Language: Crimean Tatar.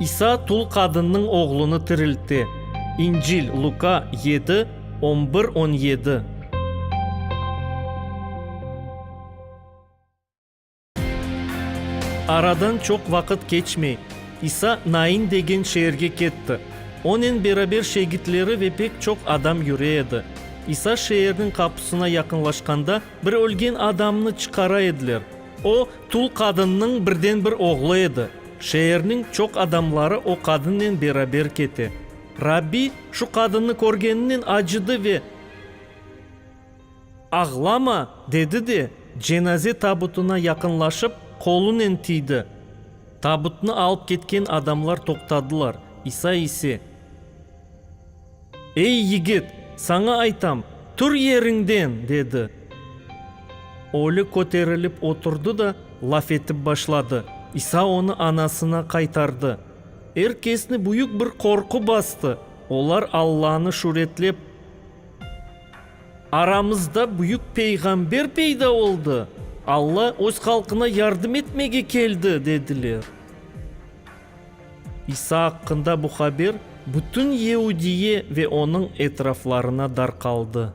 İsa tul qadınnıñ oğlunı tiriltti. İncil, Luka, yedi, on bir, on yedi. Aradan çoq vaqıt keçmey, İsa Nain degen şeerge ketti. Onen beraber şegitleri ve pek çoq adam yüre edi. İsa şeerniñ qapusına yaqınlaşqanda, Bir ölgen adamnı çıqara ediler. O, tul qadınnıñ birden-bir oğlu edi. Şeerniñ çoq adamları o qadınnen beraber kete. Rabbi şu qadınnı körgeninen acıdı ve, Ağlama! dedi de, cenaze tabutına yaqınlaşıp, qolunen tiydi. Tabutnı alıp ketken adamlar toqtadılar, İsa ise. Ey, yigit, saña aytam, tur yeriñden! dedi. Ölü köterilip oturdı da, laf etip başladı. İsa onı anasına qaytardı. Er kesni büyük bir qorqu bastı. Olar Allanı şüretlep, Aramızda büyük peyğamber peyda oldı! Alla öz halqına yardım etmege keldi! dediler. İsa aqqında bu haber bütün Yehudiye ve onıñ etraflarına darqaldı.